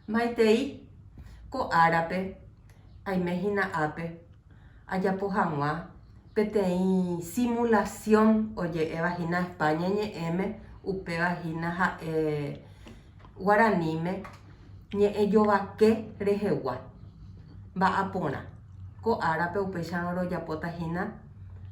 Maitei, ko árape, aime hína ápe, ajapo hag̃ua peteĩ simulasiõ oje'éva hína España ñe'ẽme, upéva hína ha'e guaraníme ñe'ẽ jovake rehegua. Mba'á porã, ko árape upéicharõ rojapóta hína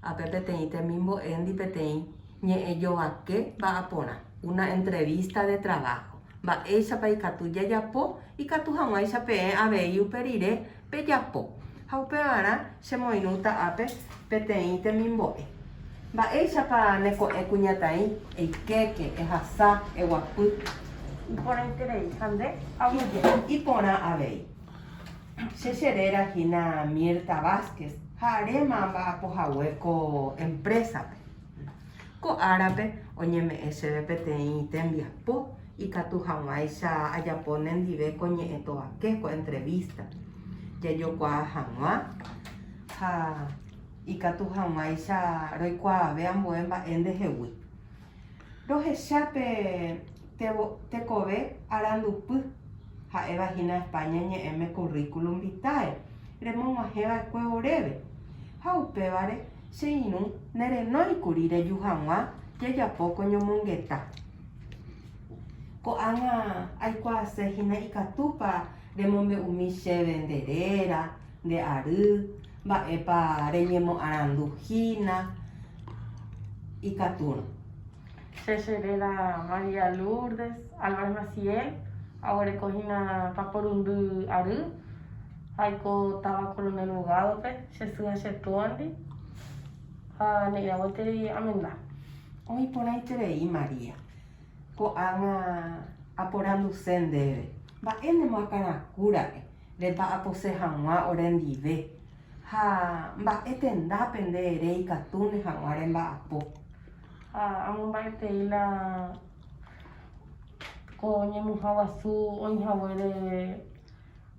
ápe peteĩ temimbo'éndi peteĩ ñe'ẽ jovake mba'aporã, una entrevista de trabajo. Mba'éichapa ikatu jajapo, ikatu hag̃uáicha peẽ avei upe rire pejapo. Ha upevarã chemoirũta ápe peteĩ temimbo'e. Mba'éichapa ne ko'ẽ kuñataĩ, eikéke, ehasa, eguapy. Iporãiterei ha nde aguyje. Iporã avei. Che che réra hína Mirta Vásquez ha aréma amba'apo hague ko emprésape. Ko árape oñeme'ẽ chéve peteĩ tembiapo ikatu hag̃uáicha ajapo nendive ko ñe'ẽ tovake, ko entrevista. Jajokuaa hag̃ua ha ikatu hag̃uáicha roikuaave ambue mba'e ndehegui. Rohecha pe tekove arandupy, ha'éva hína España ñe'ẽme currículum vitae remog̃uahẽva'ekue oréve ha upévare Che irũ nerenói kuri reju hag̃ua jejapo ko ñomongeta. Ko'ág̃a aikuaase hína ikatúpa remombe'umi chéve nde réra, nde ary, mba'épa reñemoarandu hína ikatúrõ. Che che réra María Lourdes Álvarez Maciel aguereko hína paporundy ary. Aiko táva Coronel Bogado-pe, che sy ha che túandi, ha ne'ĩramo gueteri amenda. Oĩ porãiterei María, ko'ág̃a aporanduse ndéve, mba'énema akãrakũ ra'e nde mba'apose hag̃ua ore ndive, ha mba'e tendápe nde ere ikatúne hag̃ua remba'apo. Ha amomba'etei la ko ñemuha guasu oĩ haguére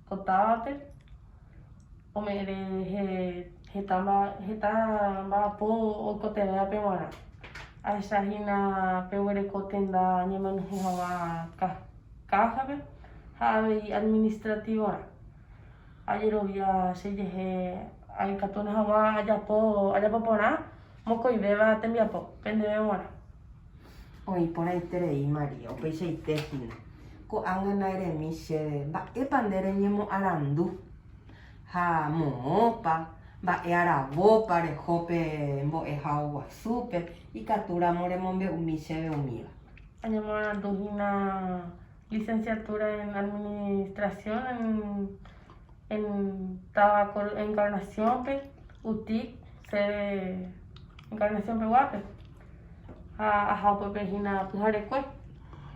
Ko távape ome'ẽre heta mba'apo oikotevẽvape g̃uarã. Ahecha hína peguereko tenda ñemenyhẽ hag̃ua káhape ha avei administrativorã. Ajerovia che jehe aikatúne hag̃ua ajapo porã. mokõivéva tembiapo pendeve g̃uarã. Oĩ porãiterei María, upeichaite hína, ko'ág̃a naeremi chéve mba'épa nde reñemoarandu ha moõpa, mba'e aravópa reho pe mbo'ehao guasúpe, ikatúramo remombe'umi chéve umíva. Añemoarandu hína. licenciatura en administración en táva Encarnación-pe, UTIC, sede Encarnación peguápe, ha aha upepehína pyharekue,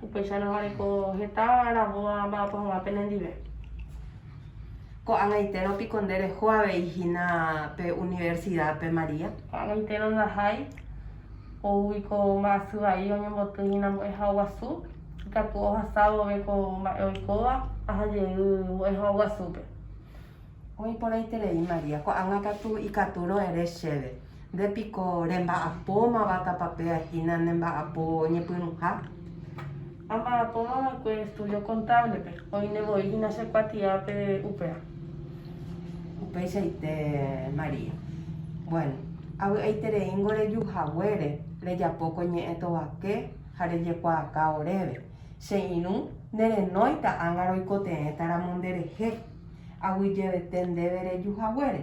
upéicha nogareko heta rabóva mba'apo hag̃ua penendive. Ko'ag̃aitérõ piko nde reho avei hína pe universidad-pe María? Ko'ag̃aitérõ ndahái. oúgui ko mba'asy vai oñemboty hína mbo'eha guasu, ikatu ohasa vove ko mba'e oikóva aha jey mbo'eha guasúpe. Oĩ porãiterei María, ko'ág̃a katu ikatu ro'ere chéve, nde piko remba'apómava tapape'a hína ne mba'apo ñepyrũha? Amba'apóma va'ekue estudio kontáblepe, oĩne voi hína che kuatiápe upéva. Upeichaite María. Bueno, avy'aitereíngo reju haguére rejapo ko ñe'ẽ tovake ha rejekuaaka oréve. Che irũ nerenóita ág̃a roikotevẽta ramo nderehe, aguyjevete ndéve reju haguére.